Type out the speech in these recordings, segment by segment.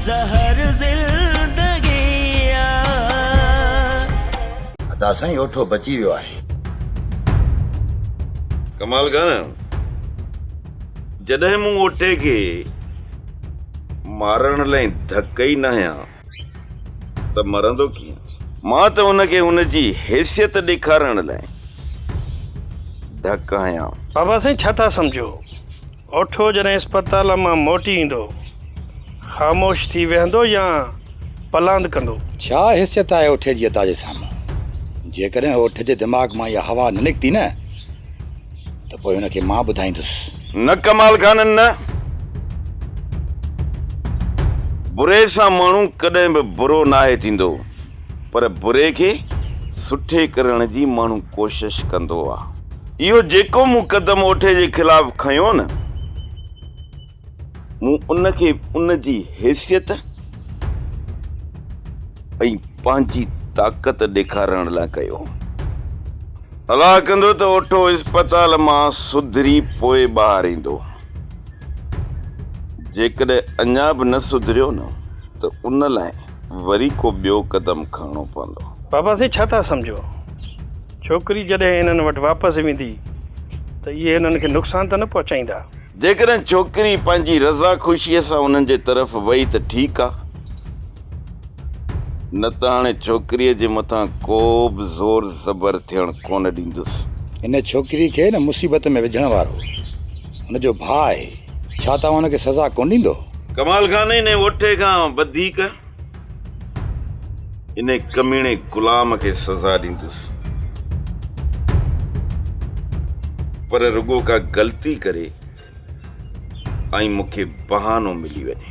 زهر زندگي آ. ادا سائين اوٺو بچي ويو آهي. ڪمال ڪا نه جڏهن مون اوٺي کي مارڻ لئي ڌڪ ئي نه هنيا ته مرندو ڪيئن. مان ته هن کي هن جي حيثيت ڏيکارڻ لئي ڌڪ هنيا. بابا سائين ڇا ٿا سمجهو. اوٺو جڏهن اسپتال مان موٽي ايندو. خاموش ٿي ويهندو يا پلاند ڪندو. ڇا حيثيت آهي اوٺي جي ادا جي سامهون؟ جيڪڏهن اوٺي جي دماغ مان اها هوا نه نڪتي نه ته پوء هن کي مان ٻڌائيندس. نه ڪمال خانن نه. بري سان ماڻهو ڪڏهن به برو ناهي ٿيندو. پر بري کي سٺي ڪرڻ جي ماڻهو ڪوشش ڪندو آ. اهو جيڪو مون قدم اوٺي جي خلاف کنيو نه، مون ان کي ان جي حيثيت ۽ پنهنجي طاقت ڏيکارڻ لاء ڪيو هو. الله ڪندو ته اوٺو اسپتال مان سڌري پوء ٻاهر ايندو. جيڪڏهن اڃا به نه سڌريو نه ته ان لاء وري ڪو ٻيو قدم کڻڻو پوندو. بابا سائين ڇا ٿا سمجهو؟ ڇوڪري جڏهن هنن وٽ واپس ويندي ته اهي هنن کي نقصان ته نه پهچائيندا؟ جيڪڏهن ڇوڪري پنهنجي رضا خوشيء سان هنن جي طرف وئي ته ٺيڪ آ، نه ته هاڻي ڇوڪريء جي مٿان ڪو به زور زبر ٿيڻ ڪونه ڏيندس. هن ڇوڪري کي نه مصيبت ۾ وجهڻ وارو. هن جو ڀاء آهي، ڇا توهان هن کي سزا ڪونه ڏيندو؟ ڪمال خان انهي وٺي کان وڌيڪ انهي ڪميڻي غلام کي سزا ڏيندس، پر رڳو ڪا غلطي ڪري ۽ مون کي بهانو ملي وڃي،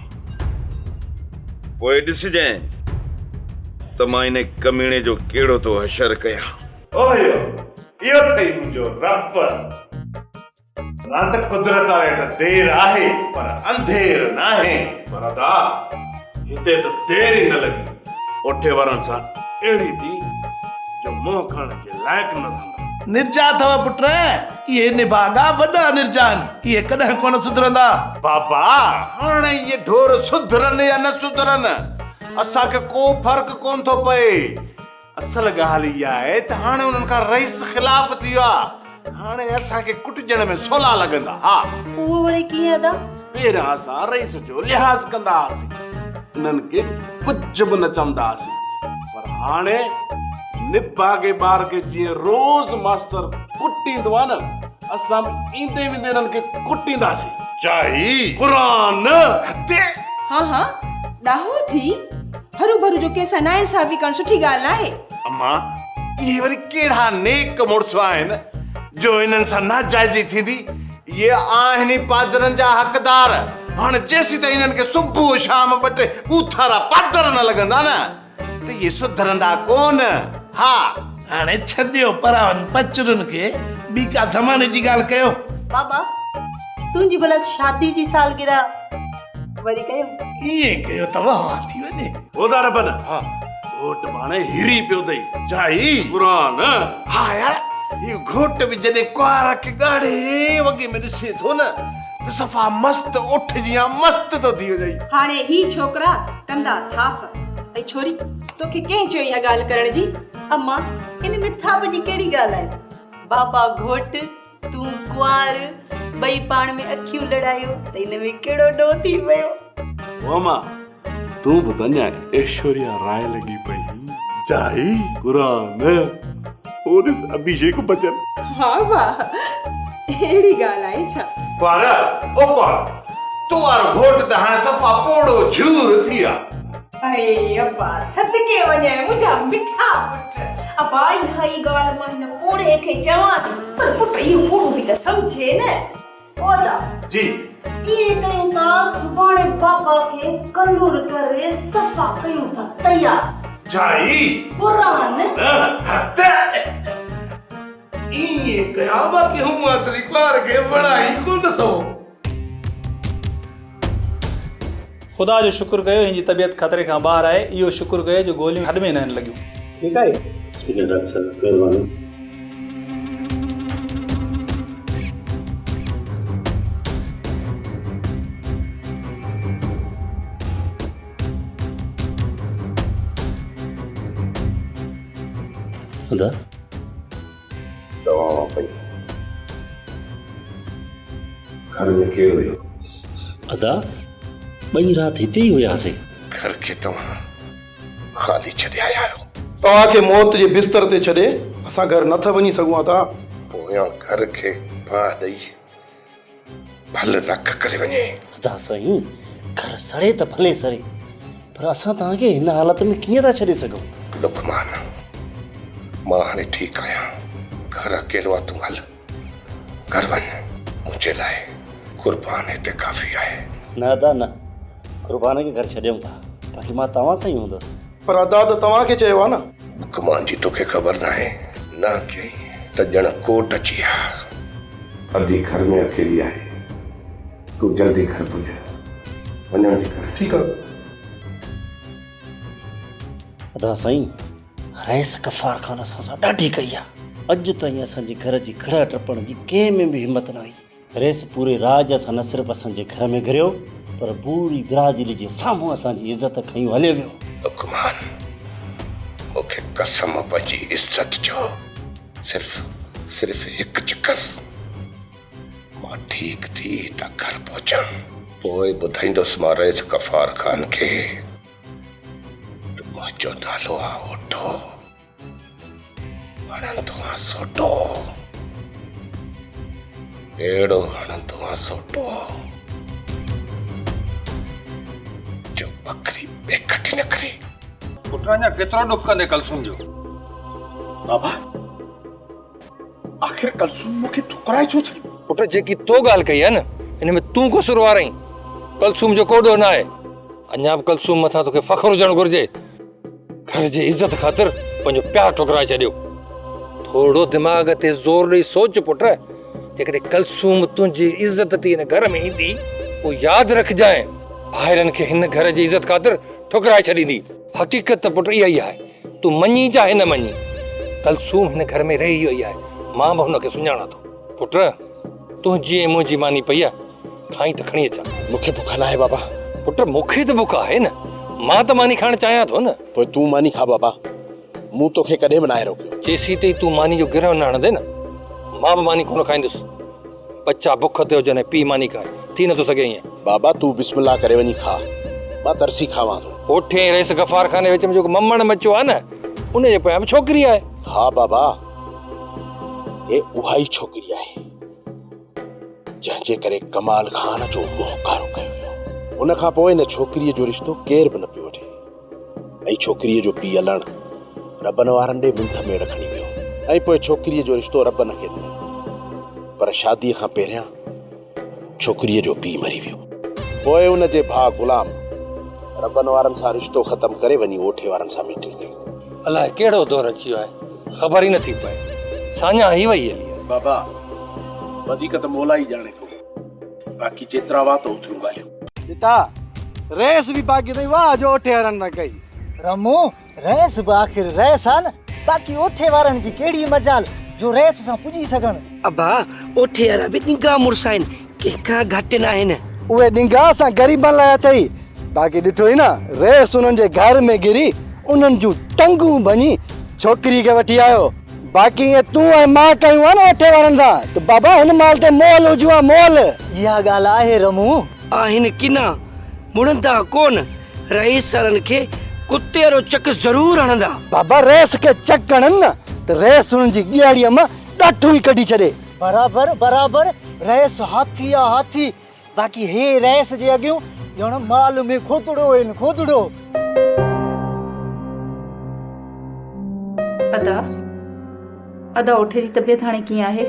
پوء ڏسجانء ته مان انهي ڪميڻي جو ڪهڙو ٿو حشر ڪيان. اوهيو، اهو ٿئي منهنجو رهبر. رات قدرت آهي ته دير آهي پر انڌير ناهي. پر ادا هتي ته دير ئي نه لڳي. اوٺي وارن سان اهڙي ٿي جو منهن کڻڻ جي لائق نه رهندا. نرجا اٿئو پٽ، اهي نڀاڳا وڏا نرجا آهن، اهي ڪڏهن ڪونه سڌرندا. بابا هاڻي اهي ڍور سڌرن يا نه سڌرن اسان کي ڪو فرق ڪونه ٿو پئي. اصل ڳالهه اها آهي ته هاڻي انهن کان رئيس خلاف ٿي ويو آهي. هاڻي اسان کي ڪٽجڻ ۾ سولا لڳندا. ها. اهو وري ڪيئن ادا؟ پهريان اسان رئيس جو لحاظ ڪندا هئاسين. انهن کي ڪجهه به نه چوندا هئاسين. پر هاڻي نڀاڳي ٻار کي جيئن روز ماستر ڪٽيندو آهي نه اسان به ايندي ويندي انهن کي ڪٽينداسين. چائي قرآن هتي. ها ها ڏاهو ٿي. هرو ڀرو جو ڪنهن سان ناانصافي ڪرڻ سٺي ڳالهه ناهي. اما اهي وري ڪهڙا نيڪ مڙس آهن جو انهن سان ناجائزي ٿيندي. اهي آهن ئي پادرن جا حقدار. هاڻ جيسيتائين انهن کي صبح شام ٻه ٽي ٻوٿارا پادر نه لڳندا نه ته اهي سڌرندا ڪونه. ها! هاڻي ڇڏيو پراون پچرن کي ٻي ڪا زماني جي ڳالهه ڪيو. بابا تنهنجي ڀلا شادي جي سالگرهه. وري ڪيم. ائين ڪيو ته وهان ٿي وڃي. هودا ربن! ها. گهوٽ ڀاڻي هري پيو اٿئي. جائي. قرآن. ها يار، هي گهوٽ به جڏهن ڪنوار کي ڳاڙهي وڳي ۾ ڏسي ٿو نه ته صفا مست اٺ جيان مست ٿو ٿي وڃئي. هاڻي هي ڇوڪرا ڪندا ٿاڦ. اي ڇوري، توکي ڪنهن چيو اها ڳالهه ڪرڻ جي؟ امان، ان ۾ ٿاڦ جي ڪهڙي ڳالهه آهي؟ بابا گهوٽ. تون ڪنوار ٻئي پاڻ ۾ اکيون لڙايو ته ان ۾ ڪهڙو ڏوهه ٿي ويو. واما تون به ڌن آهين. ايشوريا راء لڳي پئي جائي قرآن او ڏس ابهيشيڪ بچن. ها واهه اهڙي ڳالهه آهي ڇا. ڪنوار او ڪنوار تون وارو گهوٽ ته هاڻي صفا پوڙهو جهور ٿي آ. اڙي ابا صدقي وڃان منهنجا مٺا پٽ. ابا اها ئي ڳالهه مان هن پوڙهي کي چوان ٿي. پر پٽ اهو پوڙهو به ته سمجهي نه. اودا، جي، ائين ڪيون ٿا سڀاڻي بابا کي ڪنور ڪري صفا ڪيون ٿا تيار. جائي، برهان، هت ائين ڪيان ٻا ڪي هومانس لي ٻار کي وڻان ئي ڪونه ٿو. خدا جو شڪر ڪيو هن جي طبيعت خطري کان ٻاهر آهي اهو شڪر ڪيو جو گوليون هڏ ۾ ناهن لڳيون. ٺيڪ آهي ٺيڪ آهي ڊاڪٽر صاحب مهرباني. ادا چوان پئي گهر ۾ ڪير ويو؟ ادا ٻئي رات هتي ئي هياسين. گهر کي توهان خالي ڇڏي آيا آهيو. توهان کي موت جي بستر تي ڇڏي اسان گهر نه ٿا وڃي سگهون ادا. پويان گهر کي باهه ڏئي. ڀل رک ڪري وڃي. ادا سائين گهر سڙي ته ڀلي سڙي پر اسان توهان کي هن حالت ۾ ڪيئن ٿا ڇڏي سگهون. لقمان مان هاڻي ٺيڪ آهيان گهر اڪيلو آهي تون هل گهر وڃ منهنجي لاء قربان هتي ڪافي آهي. نه ادا نه قربان کي گهر ڇڏيون ٿا باقي مان توهان سان ئي هوندس. پر ادا ته توهان کي چيو آ نه. گمان جي توکي خبر ناهي نه ڪيئي ته ڄڻ ڪوٽ اچي آ. ادي گهر ۾ اڪيلي آهي تون جلدي گهر پڄ وڃڻ جي ڪر. ٺيڪ آ. ادا سائين رئيس غفار خان اسان سان ڏاڍي ڪئي آ اڄ تائين اسان جي گهر جي ڪڙهه ٽپڻ جي ڪنهن ۾ به همت نه هئي. ريس پوري راڄ سان نه صرف اسان جي گهر ۾ گهريو پر پوري برادري جي سامهون اسان جي عزت کنيون هليو ويو. لقمان مون کي قسم پنهنجي عزت جو صرف صرف هڪ چڪس مان ٺيڪ ٿي ته گهر پهچان پوء ٻڌائيندس مان ريس غفار خان کي ته منهنجو نالو آهي اوٽو. هڻندو آن سوٽو اهڙو هڻندو آن سوٽو جو ٻڪري بيکٽي نه ڪري پٽ اڃا ڪيترو ڏک ڪندي ڪلثوم جو بابا آخر ڪلثوم مون کي ٺڪرائي ڇو ڇڏي پٽ جيڪي تو ڳالهه ڪئي آهي نه ان ۾ تون قصوروار آهين ڪلثوم جو ڪو ڏوهه نه آهي اڃا به ڪلثوم مٿان توکي فخر هجڻ گهرجي گهر جي عزت خاطر پنهنجو پيار ٺڪرائي ڇڏيو ٿورو دماغ تي زور ڏيئي سوچ پٽ جيڪڏهن ڪلسوم تنهنجي عزت تي هن گهر ۾ ايندي پوء ياد رکجانء ڀائرن کي هن گهر جي عزت خاطر ٺڪرائي ڇڏيندي حقيقت ته پٽ اها ئي آهي تون مڃين چاهي نه مڃين ڪلسوم هن گهر ۾ رهي وئي آهي مان به هن کي سڃاڻان ٿو پٽ تنهنجي ۽ منهنجي ماني پئي آ کائين ته کڻي اچان. مون کي بک ناهي بابا. پٽ مون کي ته بک آهي نه مان ته ماني کائڻ چاهيان ٿو نه. پوء تون ماني کاء بابا مون توکي ڪڏهن به ناهي روڪيو. جيسين تائين تون ماني جو گرهه نه هڻندين نه مان به ماني ڪونه کائيندس. ٻچا بک تي هجن ۽ پيء ماني کائي ٿي نٿو سگهي ائين. بابا تون بسم الله ڪري وڃي کاء مان ترسي کاوان ٿو. هوٺين رئيس غفار خان جي وچ ۾ جيڪو ممڻ مچيو آهي نه ان جي پويان به ڇوڪري آهي. ها بابا. هي اها ئي ڇوڪري آهي جنهن جي ڪري ڪمال خان جو موهڪارو ڪيو ويو ان کان پوء هن ڇوڪريء جو رشتو ڪير به نه پيو وٺي ۽ ڇوڪريء جو پيء الڻ ربن وارن ڏي منٿ ميڙ کڻي ويو ۽ پوء ڇوڪريء جو رشتو ربن کي ڏنو پر شاديء کان پهريان ڇوڪريء جو پيء مري ويو. پوء ان جي ڀاء غلام ربن وارن سان رشتو ختم ڪري وڃي اوٺي وارن سان ميٽنگ ڪئي. الاء ڪهڙو دور اچي ويو آهي، خبر ئي نٿي پئي. ساڃاهه هي وئي هلي. بابا، وڌيڪ ته مولا ئي ڄاڻي ٿو، باقي جيترا هئا ته اوتريون ڳالهيون. پتا، ريس به باقي اٿئي، واهه جو اوٺي وارن سان ڪئي. رمون، رئيس به آخر رئيس آ نه، باقي اوٺي وارن جي ڪهڙي مجال جو رئيس سان پڄي سگهن. ابا اوٺي وارا به ڏنگا مڙس آهن، ڪنهن کان گهٽ ناهن. اهي ڏنگا اسان غريبن لاء اٿئي، باقي ڏٺو ئي نه رئيس انهن جي گهر ۾ گهري انهن جون ٽنگون ڀڃي ڇوڪري کي وٺي آيو. باقي ايئن تون ۽ مان ڪيون ها نه اوٺي وارن سان ته بابا هن مال تي مئل هجون ها مئل. اها ڳالهه آهي رمون. آهن ڪنا، مڙندا ڪونه، رئيس سرن کي ڪتي رو چڪ ضرور هڻندا. بابا رئيس کي چڪ هڻن نه ته رئيس انهن جي ڳياڙيء مان ڏاٺون ئي ڪڍي ڇڏي. برابر برابر رئيس هاٿي آ هاٿي باقي هي رئيس جي اڳيون ڄڻ مال ۾ کوتڙو آهن کوتڙو. ادا ادا اوٺي جي طبيعت هاڻي ڪيئن آهي.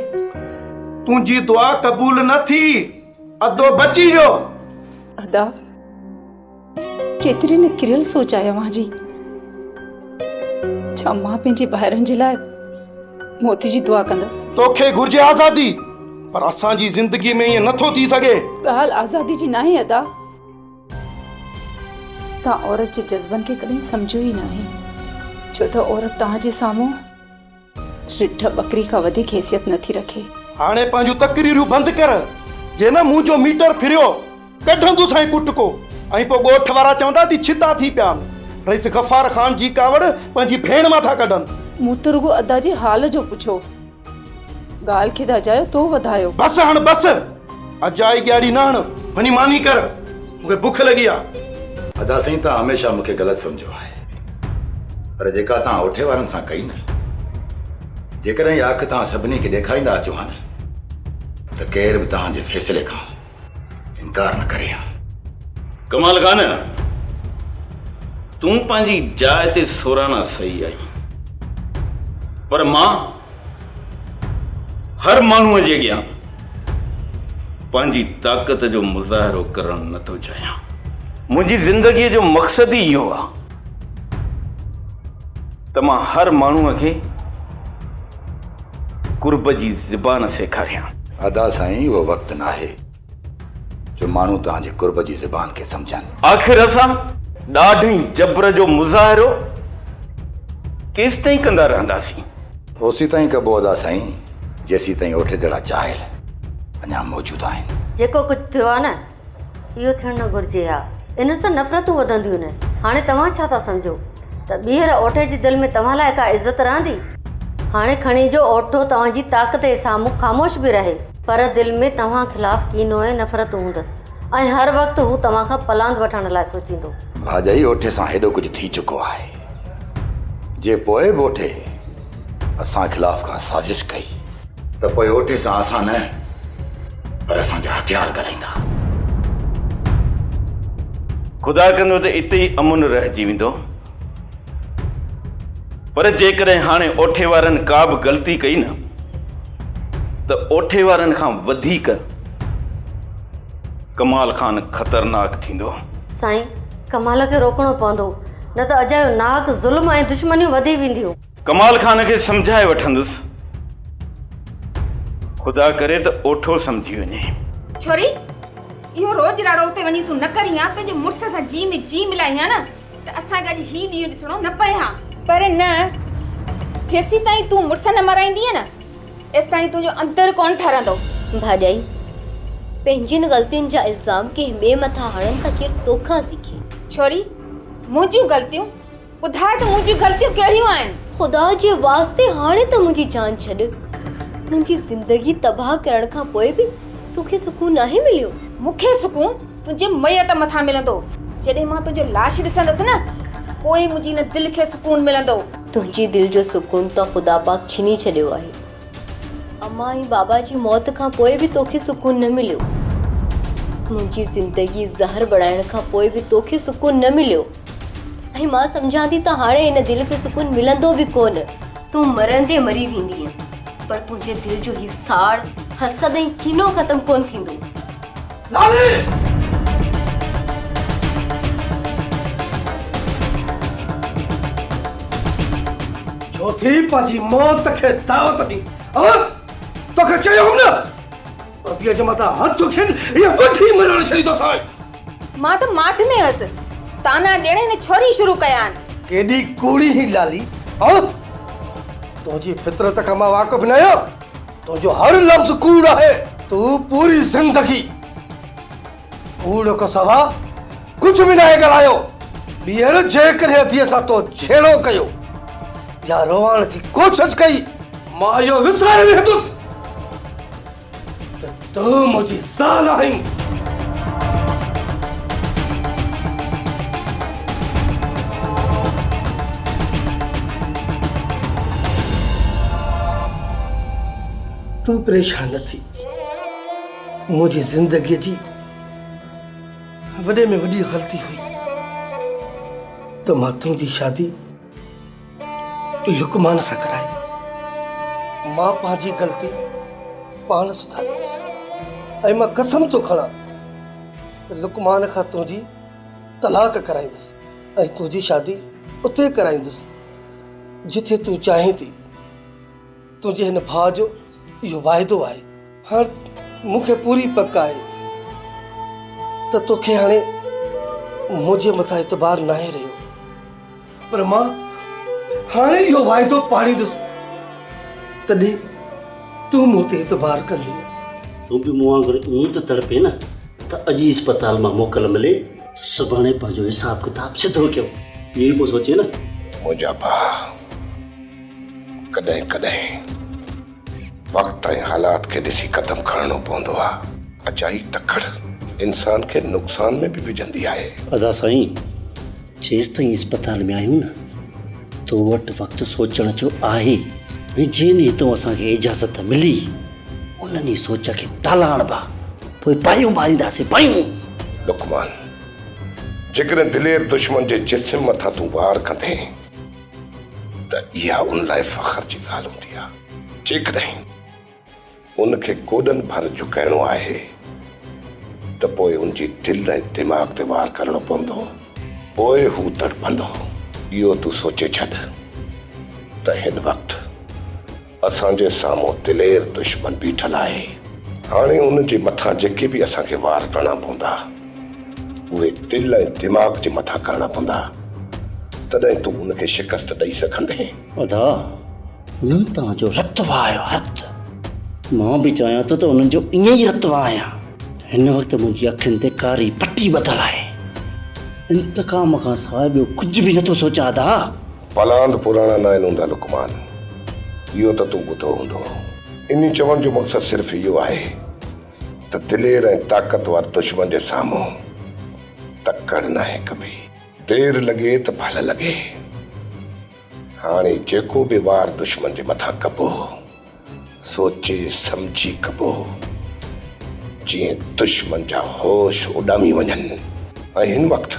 تنهنجي دعا قبول نه ٿي. ادو بچي ويو. ادا ڪيتري نه ڪريل سوچ آهي اوهان جي. ڇا مان پنهنجي ڀائرن جي لاء موت جي دعا ڪندس. توکي گهرجي آزادي پر اسان جي زندگي ۾ ائين نٿو ٿي سگهي. ڳالهه آزادي جي ناهي ادا. توهان عورت جي جذبن کي ڪڏهن سمجهيو ئي ناهي ڇو ته عورت توهان جي سامهون. رڍ ٻڪري کان وڌيڪ حيثيت نه ٿي رکي. هاڻي پنهنجون تقريرون بند ڪر، جي نه مون جو ميٽر ڦريو، ڪڍندوسانء ڪٽڪو ۽ پوء ڳوٺ وارا چوندا ته ڇتا ٿي پيا آهن. رئيس غفار خان جي ڪاوڙ پنهنجي ڀيڻ مان ٿا ڪڍن. مون ته رڳو ادا جي حال جو پڇيو. ڳالهه کي ته اجايو تو وڌايو. بس هاڻ بس! اجائي ڳياڙي نه هڻ، وڃي ماني ڪر، مون کي بک لڳي آ. ادا سائين تان هميشه مون کي غلط سمجهيو آهي پر جيڪا تان اوٺي وارن سان ڪئي نه جيڪڏهن اها اک تان سڀني کي ڏيکاريندا اچو ها نه ته ڪير به تان جي فيصلي کان انڪار نه ڪري ها. ڪمال خان تون پنهنجي جاء تي سورانا صحيح آهين پر مان هر ماڻهوء جي اڳيان پنهنجي طاقت جو مظاهرو ڪرڻ نه ٿو چاهيان. منهنجي زندگيء جو مقصد ئي اهو آهي ته مان هر ماڻهوء کي قرب جي زبان سيکاريان. ادا سائين اهو وقت ناهي. جو ماڻهو توهان جي قرب جي زبان کي سمجهن. آخر اسان ڏاڍ ۽ جبر جو مظاهرو ڪيستائين ڪندا رهنداسين؟ اوسيتائين ڪبو ادا سائين جيسيتائين اوٺي جهڙا چاهل اڃا موجود آهن. جيڪو ڪجهه ٿيو آهي نه اهو ٿيڻ نه گهرجي ها. انهن سان نفرتون وڌنديون نه. هاڻي توهان ڇا ٿا سمجهو؟ ته ٻيهر اوٺي جي دل ۾ توهان لاء ڪا عزت رهندي؟ هاڻي کڻي جو اوٺو توهان جي طاقت جي سامهون خاموش به رهي. پر دل ۾ توهان خلاف ڪينو ۽ نفرتون هوندس ۽ هر وقت هو توهان کان پلاند وٺڻ لاء سوچيندو. ڀاڄائي اوٺي سان هيڏو ڪجهه ٿي چڪو آهي جي پوء به اوٺي اسان خلاف ڪا سازش ڪئي ته پوء اوٽي سان اسان نه پر اسان جا هٿيار ڳالهائيندا. خدا ڪندو ته اتي ئي امن رهجي ويندو پر جيڪڏهن هاڻي اوٺي وارن ڪا به غلطي ڪئي نه ته اوٺي وارن کان وڌيڪ ڪمال خان خطرناڪ ٿيندو. سائين ڪمال کي روڪڻو پوندو. نه ته اجايو ناحق ظلم ۽ دشمنيون وڌي وينديون. ڪمال خان کي سمجهائي وٺندس. خدا ڪري ته اوٺو سمجهي وڃي. ڇوري! اهو روڄراڙو اتي وڃي تون نه ڪرين ها، پنهنجي مڙس سان جي ۾ جي ملائين ها نه ته اسان کي اڄ هي ڏينهن ڏسڻو نه پئي ها. پر نه، جيسيتائين تون مڙس نه مرائيندينء نه، ايستائين تنهنجو اندر ڪونه ٺرندو. ڀاڄائي! پنهنجين غلطين جا الزام ڪنهن ٻئي مٿان هڻڻ ته ڪير توکان سيکي. ڇوري! منهنجيون غلطيون؟ ٻڌاء ته منهنجيون غلطيون ڪهڙيون آهن؟ خدا جي واسطي هاڻي ته منهنجي جان ڇڏ. منهنجي زندگي تباهه ڪرڻ کان پوء به تو کي سڪون ناهي مليو؟ مون کي سڪون تنهنجي ميت مٿان ملندو. جڏهن مان تنهنجو لاش ڏسندس نه پوء ئي منهنجي هن دل کي سڪون ملندو. تنهنجي دل جو سڪون ته خدا پاڪ ڇني ڇڏيو آهي. امان ۽ بابا جي موت کان پوء به توکي سڪون نه مليو منهنجي زندگي زهر بڻائڻ کان پوء به توکي سڪون نه مليو ۽ مان سمجهان ٿي ته هاڻي هن دل کي سڪون ملندو به ڪونه تون مرندي مري ويندينء پر تنهنجي دل جو هي ساڙ حسد ۽ کينو ختم ڪونه ٿيندو لاڙي! ڇو ٿي پنهنجي موت کي دعوت ڏين؟ ها؟ توکي چيو هئم نه پرديء جي مٿان هٿ اٿين هيء وٺي مرڻ ڇڏي توسان. مان ته ماٺ ۾ هيس. طعنا ڏيڻ هن ڇوري شروع ڪيا آهن. ڪيڏي ڪوڙي هين لالي! ها؟ تنهنجي فطرت کان مان واقف نه آهيان. تنهنجو هر لفظ ڪوڙ آهي. تون پوري زندگي ڪوڙ کان سوا ڪجهه به ناهي ڳالهايو. ٻيهر جيڪڏهن اديء سان تو جهيڙو ڪيو يا روئڻ جي ڪوشش ڪئي. مان اهو وساري ويهندس ته تون منهنجي سال آهين. تون پريشان نه ٿي. منهنجي زندگيء جي وڏي ۾ وڏي غلطي هئي ته مان تنهنجي شادي لقمان سان ڪرائي، مان پنهنجي غلطي پاڻ سڌاريندس ۽ مان قسم ٿو کڻان ته لقمان کان تنهنجي طلاق ڪرائيندس ۽ تنهنجي شادي اتي ڪرائيندس جتي تون چاهين ٿي. تنهنجي هن ڀاء جو اهو واعدو آهي. هاڻ مون کي پوري پڪ آهي ته توکي هاڻي منهنجي مٿان اعتبار ناهي رهيو. پر مان هاڻي اهو واعدو پاڙيندس، تڏهن تون مون تي اعتبار ڪندينء. تون به مون وانگر ائين ئي ٿو تڙپين نه ته اڄ ئي اسپتال مان موڪل ملي ته سڀاڻي پنهنجو حساب ڪتاب سڌو ڪيو. اهو ئي پيو سوچين نه. منهنجا ڀاء! ڪڏهن ڪڏهن وقت ۽ حالات کي ڏسي قدم کڻڻو پوندو آ. اجائي تڪڙ انسان کي نقصان ۾ به وجهندي آهي. ادا سائين جيستائين اسپتال ۾ آهيون نه تو وٽ وقت سوچڻ جو آهي ۽ جنهن ڏينهن تون اسان کي اجازت ملي ان ڏينهن سوچ کي تالا هڻبا پوء پايون ٻارينداسين پايون. لقمان جيڪڏهن دلير دشمن جي جسم مٿان تون وار ڪندين. ته اها ان لاء فخر جي ڳالهه هوندي آهي. جيڪڏهن ان کي گوڏن ڀر جهڪائڻو آهي ته پوء ان جي دل ۽ دماغ تي وار ڪرڻو پوندو. پوء هو تڙپندو. اهو تون سوچي ڇڏ ته هن وقت. اسان جي سامهون دلير دشمن بيٺل آهي. هاڻي ان جي مٿان جيڪي به اسان کي وار ڪرڻا پوندا، اهي دل ۽ دماغ جي مٿان ڪرڻا پوندا، تڏهن تون ان کي شڪست ڏئي سگهندين. ادا، انهن توهان جو رت وهايو آهي. رت؟ مان به چاهيان ٿو ته انهن جو ائين ئي رت وهايان. هن وقت منهنجي اکين تي ڪاري پٽي ٻڌل آهي. انتقام کان سواء ٻيو ڪجهه به نٿو سوچان ادا. پلاند پراڻا ناهن هوندا لقمان، اهو ته تون ٻڌو هوندو. انهي چوڻ جو مقصد صرف اهو آهي ته دلير ۽ طاقتور دشمن جي سامهون تڪڙ ناهي ڪبي. دير لڳي ته ڀل لڳي. هاڻي جيڪو به وار دشمن جي مٿان ڪبو. سوچي سمجهي ڪبو هو جيئن دشمن جا هوش اڏامي وڃن ۽ هن وقت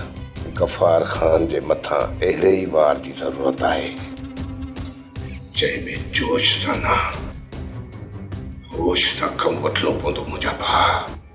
غفار خان جي مٿان اهڙي ئي وار جي ضرورت آهي جنهن ۾ جوش سان نه هوش سان ڪم وٺڻو پوندو منهنجا ڀاء.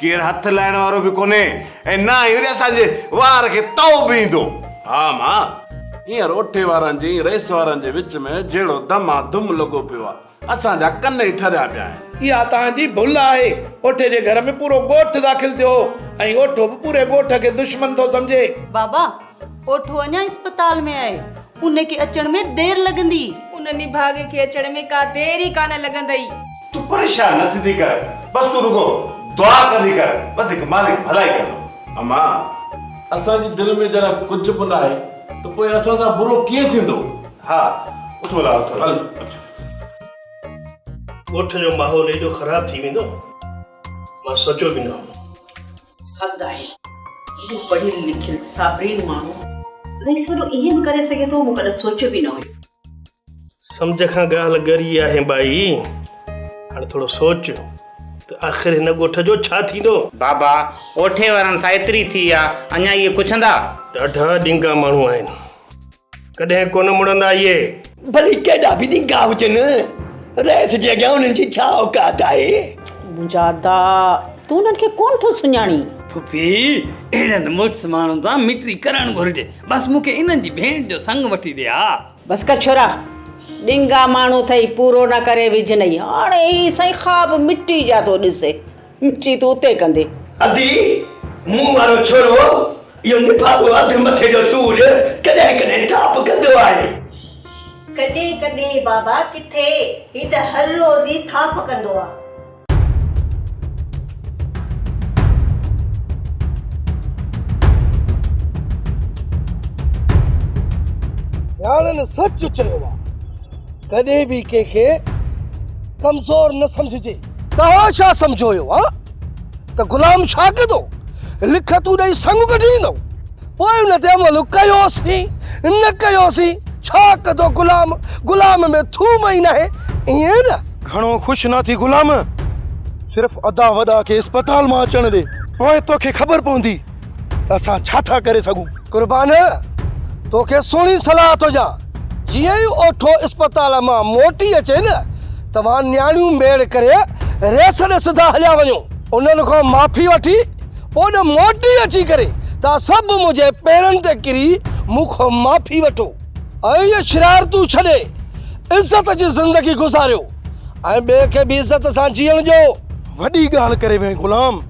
ڪير هٿ لائڻ وارو به ڪونهي ۽ نه ئي وري اسان جي وار کي تئو به ايندو. ها ماء، هينئر روٺي وارن جي ۽ رئيس وارن جي وچ ۾ جهڙو دما ڌم لڳو پيو آهي، اسان جا ڪن ئي ٺريا پيا آهن. اها توهان جي ڀل آهي. اوٺي جي گهر ۾ پورو ڳوٺ داخل ٿيو هو ۽ اوٺو به پوري ڳوٺ کي دشمن ٿو سمجهي. بابا، اوٺو اڃا اسپتال ۾ آهي. ان کي اچڻ ۾ دير لڳندي. ان نڀاڳي کي اچڻ ۾ ڪا دير ئي ڪانه لڳندئي. تون پريشان نه ٿيندي ڪر. بس تون رڳو دعا ڪندي ڪر. وڌيڪ مالڪ ڀلائي ڪندو. اما، اسان جي دل ۾ جڏهن ڪجهه به ناهي ته پوء اسان سان برو ڪيئن ٿيندو؟ ها، اٿو لاء اٿو. هل اچ. ڳوٺ جو ماحول ايڏو خراب ٿي ويندو، مان سوچيو به نه هو. حد آهي. هو پڙهيل لکيل صابرين ماڻهو ۽ سڀ ائين به ڪري سگهي ٿو، مون ڪڏهن سوچيو به نه هيو. سمجهه کان ڳالهه ڳري آهي ٻائي. هاڻ ٿورو سوچ ته آخر هن ڳوٺ جو ڇا ٿيندو؟ بابا، اوٺي وارن سان ايتري ٿي آ، اڃا اهي پڇندا؟ ڏاڍا ڏينگا ماڻهو آهن. ڪڏهن ڪونه مڙندا اهي. ڀلي ڪيڏا به ڏينگا هجن. رئيس جي اڳيان انهن جي ڇا اوقات آهي. منهنجا ادا تون انهن کي ڪونه ٿو سڃاڻين. ڦڦي اهڙن مڙس ماڻهن سان مٽري ڪرڻ گهرجي. بس مون کي انهن جي ڀيڻ جو سڱ وٺي ڏي ها. بس ڪر ڇورا ڏينگا ماڻهو ٿئي پورو نه ڪري وجهنئي هاڻي هي سائين خواب مٽي جا ٿو ڏسي. چي تون اتي ڪندي. ادي مون وارو ڇورو اهو نڀاڳو اڌ مٿي جو سور ڪڏهن ڪڏهن ٽاپ ڪندو آهي. ڪڏهن ڪڏهن بابا ڪٿي هي ته هر روز ئي ٿاڦ ڪندو آ. سياڻن سچ چيو آ ڪڏهن به ڪنهن کي ڪمزور نه سمجهجي. توهان ڇا سمجهو هيو ها ته غلام ڇا ڪندو لکتون ڏئي سڱ ڪڍي ڏيندو پوء ان تي عمل ڪيوسين نه ڪيوسين ڇا ڪندو غلام غلام ۾ ٿوم ئي ناهي ائين نه گهڻو خوش نه ٿي غلام صرف ادا وڏا کي اسپتال مان اچڻ ڏي پوء توکي خبر پوندي ته اسان ڇا ٿا ڪري سگهون؟ قربان توکي سهڻي صلاح ٿو ڏيان، جيئن ئي اوٺو اسپتال مان موٽي اچي نه، توهان نياڻيون ميڙ ڪري ريس ڏي سڌا هليا وڃو. انهن کان معافي وٺي پوء نه موٽي اچي ڪري توهان سڀ منهنجي پيرن تي ڪري مون کان معافي وٺو ۽ اهي شرارتون ڇڏي عزت جي زندگي گذاريو ۽ ٻئي کي به عزت سان جيئڻ ڏيو. وڏي ڳالهه ڪري وئين غلام.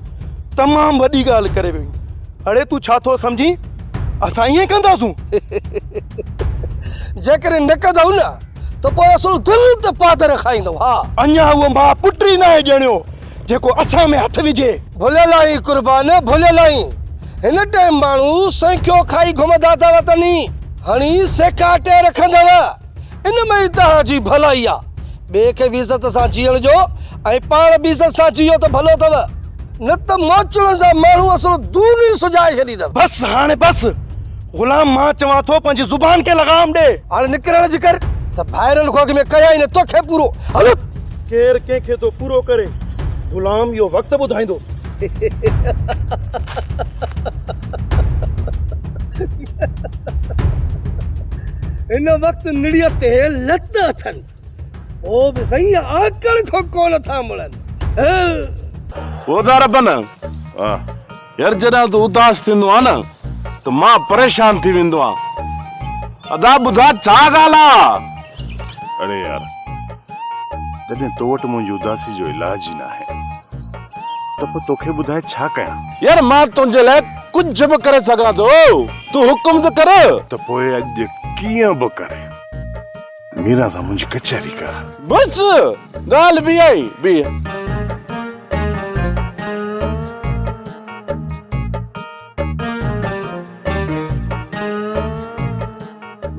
تمام وڏي ڳالهه ڪري ويو آهين. اڙي تون ڇا ٿو سمجهين اسان ائين ڪنداسون؟ جيڪڏهن نه ڪندؤ نه ته پوء اسان دل تي پادر کائيندؤ ها. اڃا اهو ماء پٽ ئي ناهي ڄڻيو جيڪو اسان ۾ هٿ وجهي. ڀلي لاهين قربان ڀلي لاهين. هن ٽيم ماڻهو سنکيو کائي گهمندا اٿا وتن ئي هڻي سيڪا ٽي رکندؤ. ان ۾ ئي توهان جي ڀلائي آ. ٻئي کي به عزت سان جيئڻ ڏيو ۽ پاڻ به عزت سان جيئو ته ڀلو اٿو. نه ته موچڙن جا ماڻهو اصل دون ئي سجائي ڇڏيندؤ. بس هاڻي بس. غلام مان چوان ٿو پنهنجي زبان کي لغام ڏي. هاڻي نڪرڻ جي ڪر ته ڀائرن کان اڳ ۾ ڪيائين نه توکي پورو. هلت! ڪير ڪنهن کي ٿو پورو ڪري. غلام اهو وقت ٻڌائيندو. هن وقت نڙيء تي لت اٿن، پوء به سائين آڪڙ کان ڪو نه ٿا مڙن. خدا ربن! يار جڏهن تون اداس ٿيندو آهين نه ته مان پريشان ٿي ويندو آهيان. ادا ٻڌاء ڇا ڳالهه آ؟ اڙي يار، جڏهن تو وٽ منهنجي اداسي جو علاج ئي ناهي. ته پوء توکي ٻڌائي ڇا ڪيان؟ يار مان تنهنجي لاء ڪجهه به ڪري سگهان ٿو، تون حڪم ته ڪر. ته پوء اڄ ڪيئن به ڪري ميران سان منهنجي ڪچهري ڪر. بس ڳالهه به اها ئي بيهه.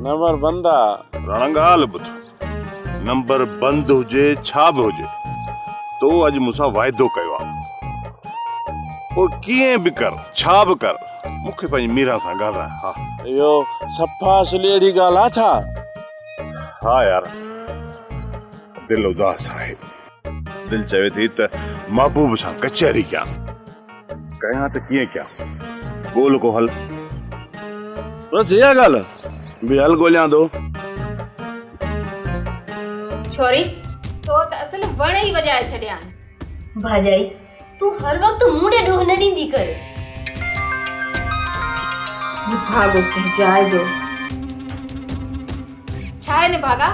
نمر بندا. راڻا ڳالهه ٻڌ. نمبر بند هجي ڇا به هجي تو اڄ مون سان واعدو ڪيو آ پوء ڪيئن به ڪر ڇا به ڪر مون کي پنهنجي ميران سان ڳالهاء ها اهو صفا سليڙي ڳالهه آ ڇا؟ ها يار دل اداس آهي. دل چوي ٿي ته محبوب سان ڪچهري ڪيان. ڪيان ته ڪيئن ڪيان؟ ڳول ڪو حل. بس اها ڳالهه به حل ڳوليان ٿو. ڇوري، تو ته اصل وڻ ئي وڄائي ڇڏيا آهن. ڀاڄائي، تون هر وقت مون ڏي ڏوهه نه ڏيندي ڪر. نڀاڳو ڪنهن جاء جو. ڇا هي نڀاڳا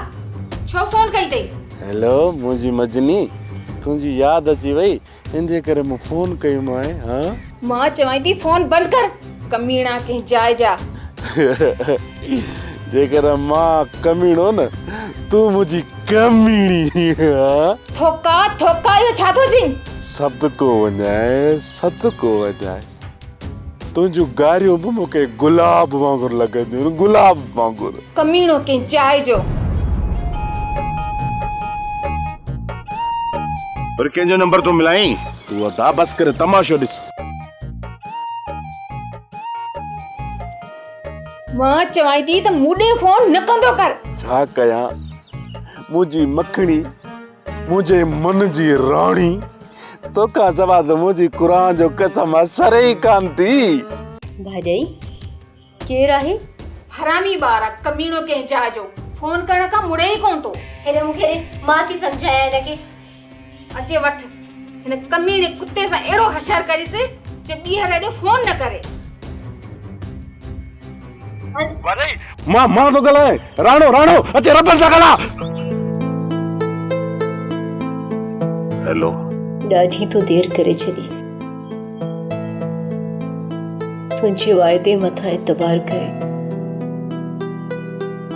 ڇو فون ڪئي اٿئي؟ هيلو منهنجي مجني تنهنجي ياد اچي وئي انجي ڪري مون فون ڪيومانء ها. مان چوانء ٿي فون بند ڪر. ڪميڻا ڪنهن جاء جا. جيڪڏهن مان ڪميڻو نه تون منهنجي ڪميڻي. ٿوڪا ٿوڪا اهو ڇا ٿو چين. صدقو وڃائي صدقو وڃائي تنهنجون گاريون به مون کي گلاب وانگر لڳنديون آهن گلاب وانگر. ڪميڻو ڪنهن جاء جو. وري ڪنهن جو نمبر ٿو ملائين. تون ادا بس ڪري تماشو ڏس. مان چوان ٿي ته مون ڏي فون نه ڪندو ڪر ڇا ڪيان منهنجي مکڻي منهنجي من جي راڻي توکان سوا ته منهنجي قرآن جو قسم اثر ئي ڪان ٿي ڀاڄائي ڪير آهي؟ حرامي ٻار ڪميڻو ڪنهن جاء جو فون ڪرڻ کان مڙي ئي ڪونه ٿو. هن مون کي ڏي مان ٿي سمجهايان هن کي. اچي وٺ هن ڪميڻي ڪتي سان اهڙو حشر ڪريس جو ٻيهر اڏو فون نه ڪري. واري مان مان ٿو ڳالهايان راڻو راڻو اچي ربر سان ڳالهاء. هيلو. ڏاڍي تو دير ڪري ڇڏي. تنهنجي وعدي مٿان اعتبار ڪري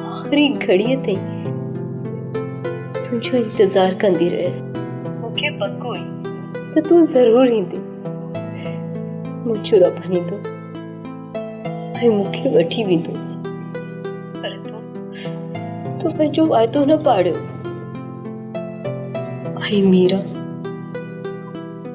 آخري گهڙيء تائين تنهنجو انتظار ڪندي رهيس مون کي پڪ هئي ته تون ضرور ايندي منهنجو رب ايندو ۽ مون کي وٺي ويندو پر تون تون پنهنجو وعدو نه پاڙيو ۽ ميرا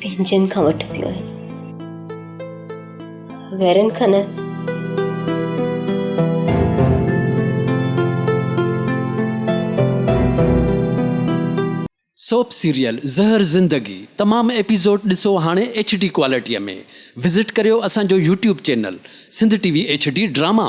پنهنجن کان وٺبيون آهن غيرن کان نه سوپ سيريل زهر زندگي تمام ايپيسوڊ ڏسو هاڻي ايڇ ڊي ڪوالٽيء ۾ وزٽ ڪريو اسان جو YouTube channel Sindh T V H D drama.